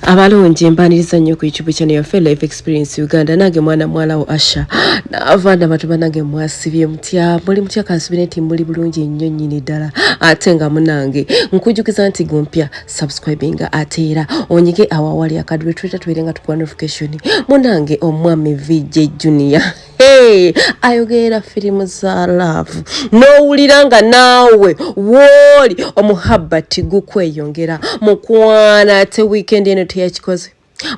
abalungi mbaniriza nnyo ku youtube channel yaffe life experience uganda nange mwana mwalawo asha naava nabatu banange mwasibye mutya muli mutya kansubire nti muli bulungi nnyo nnyini ddala ate nga munange nkujukiza nti gumpya subscribinga ate era onyige awawali akadulwe tuleta tubeere nga tukuwa notification munange omwami vj junior Hey, ayogeera firimu za laavu n'owulira nga naawe wooli omuhabbati gukweyongera mukwana ate wiikendi eno teyakikoze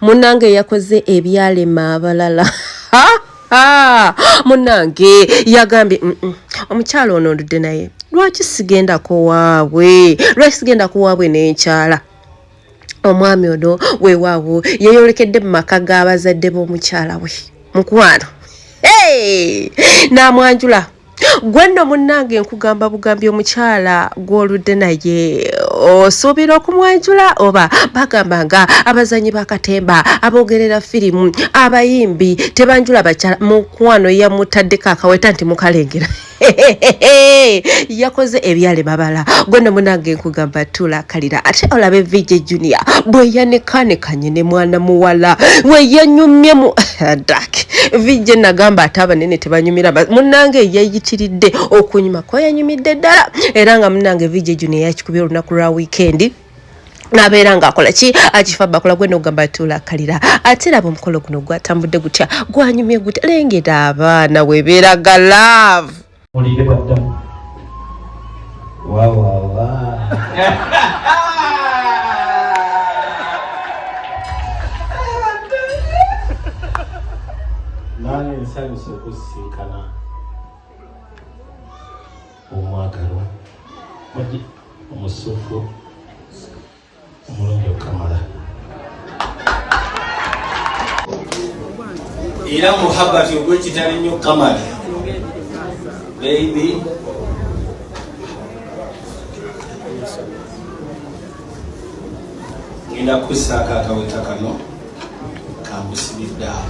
munnange yakoze ebyalema abalala munnange yagambye mm -mm. omukyala ono ndudde naye lwaki sigendako waabwe lwaki sigendako waabwe n'enkyala omwami ono weewaawo yeeyolekedde mu maka g'abazadde b'omukyala we mukwano n'amwanjula gwe nno munnange nkugamba bugambi omukyala gw'oludde naye osuubira okumwanjula oba bagamba nga abazanyi bakatemba abogerera firimu abayimbi tebanjula bakyala mukwano yamutaddeko akaweta nti mukalengera yakoze ebyale babala gwene munange nkugamba tula kalira ate olabe vije junior bweyanekaanekanye ne mwana muwala weyanyumye mu dak vije nagamba ate abanene tebanyumira munange yeyitiridde okunyuma kweyanyumidde ddala era nga munange vije junior yakikubye olunaku lwa wiikendi nabeera ngaakola ki akifa bakula gwena ogamba tulakalira ate laba omukolo guno gwatambudde gutya gwanyumye gutya lengera abaana webeera ga love olire baddamu wawawa nange nsanyusa okusinkana omwagalwa omugi omusufu omulungi okamala era muhabati ogwekitali nnyo kamala baby ngenda kusaako akaweta kano kambusibidde awo